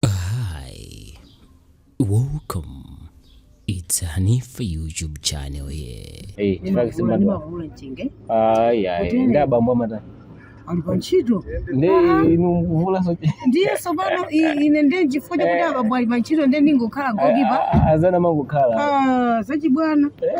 Hi, welcome. It's Hanifa YouTube channel here. Hey, chifukwa simba ndo. ndimavuula mchenga Ai ai, Kutene. nda bambo mata. ali pa ntchito Ndi Ah, inu mvula so. ndiye tsopano i- ine ndiye chifukwa chakuti Eh. abambo ali pa ntchito ndiye ndingokhala goalkeeper Azana mangu khala. Ah, zachibwana Eh?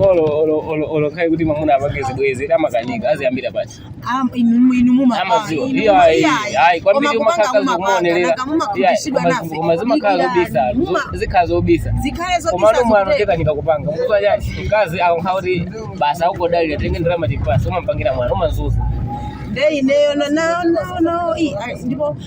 olo akhale kuti mamuna apange zibwezi amakanika aziyambira pati ayi kwambiri umakhala zokumaonerera koma zimakhala zobisa zikhala zobisa komano mwano akanika kupanga chifukwa chani mkazi akangokhala kuti basi akukudalira tenga ndalama tipatse umampangira mwano umamzunza nde ineyo ndipo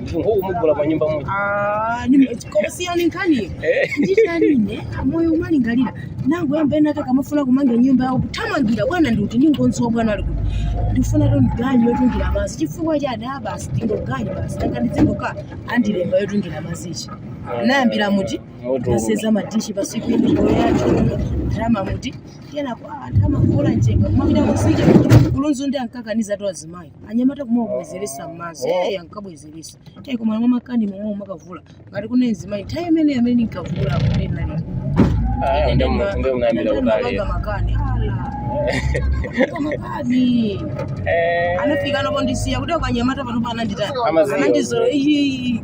munthu ngokumugula pa nyumba muja Ah, nime- koma siyani nkhaniyo Eh. nditanine moyo umalingalira nangoyamba ena ake akamafuna kumanga nyumba yawo kuthamangira bwana ndikuti ndingodziwa bwana ali kuti ndifunatu ganyu yotungira madzi chifukwa cha ada basi ndingoganyu basi nanga ndidzingoka andilemba yotungira madzi ichi nayambira muti Moto. nasenza madishi pasiku imigolo yacho ndalama muti kenako ah, ndalama kuvuula mchenga kumapita kumtsinje ku Lunzu ndi ankakanizatu azimayi anyamata kumabwezeretsa m'madzi eyi ankabwezeretsa tayi koma mwa makani momwe umakavuula ngati kuna mzimayi nthawi imene amene ndinkavuula kumene nali Ah, ndio mna- ndio munayambira kutali. Mapanga makani ala Mapanga makani Eh, anafika pondisiya kuti akanyamata pano panandita Amaziyo. anandizolo iyi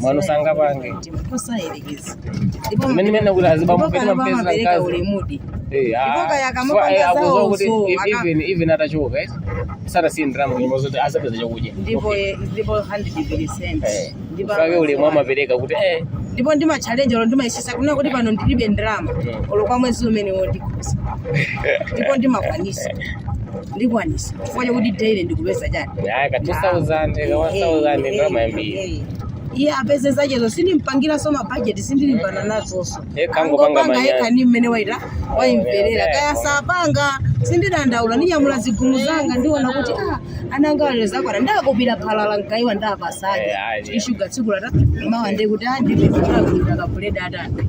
mwana usanga pange mene mene kuti azibamupeta mapesa mkazi Eh, ah. Ipoka yakamupanga Swa- eh, akuziwa zawo kuti zo, if- aka- even even atachoka eh sara si ndrama kuti mozoti asapeza chakudya ndipo eh, ndipo 100% Eh, ndipo kake uli mwa mapereka kuti eh ndipo ndi matchalenje olo ndimayesesa kunena kuti pano ndilibe ndalama olo kwa mwezi umene wondikhuza ndipo ndimakwanisa ndikwanitsa chifukwa chakuti daily ndikupeza chani Ayi, ka 2000 ka 1000 ndi ndalama yambiri iye apeze zachezo sindimpangiranso mabajeti sindilimbana nazonso Yekha angopanga angopanga manyazi. yekha ni mmene waita waimverera Yeah. kaya sapanga sindidandaula ndinyamula zigumu zanga ndiona kuti ah, ana anga lero zakwana ndakupira phala la mgaiwa ndapasaje Yeah, yeah. ishuga tsiku latha mawa nde kuti ndipezera kuita kabuledi atani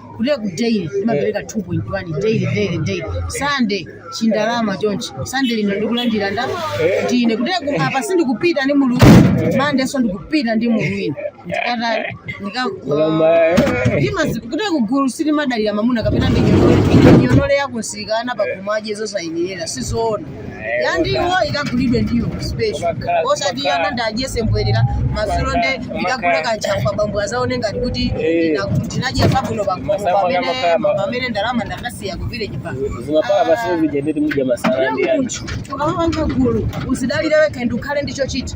kutereku daily nimapereka 2.1 daily daily daily Sunday chindalama chonchi Sunday lino ndikulandira nda ndine kutereku apa sindikupita ndi mulu wina Monday so ndikupita ndi mulu wina ndikata nika ndimazi kutere kugulu sitimadalira mamuna kapena ndinyomole yakumsika ana pakhomo adye zosayenera sizoona ya ndiwo ikagulidwe ndiwo special osati ana ndiwadyetse mbwerera madzulo nde ndikagule kanchafu abambo adzaone ngati kuti ndina- ndinadya zabwino pakhomo pamene pamene ndalama ndakasiya ku village bank zimapala pasina zija ndeti mudya masala ndi yani munthu ukamapanga gulu uzidalire wekha ndi ukhale ndi chochita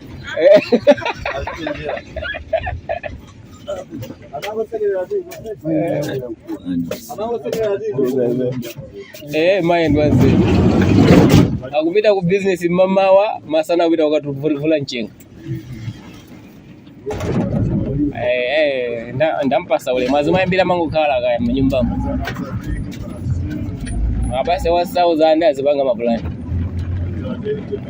Eh, mind wanze. Akupita ku business mamawa, masana akupita kukavuula nchenga. Eh, eh, nda- ndampasa ulemu azimayi ambiri amangokhala khaya mnyumbamo. Apase 1000 azipanga mapulani.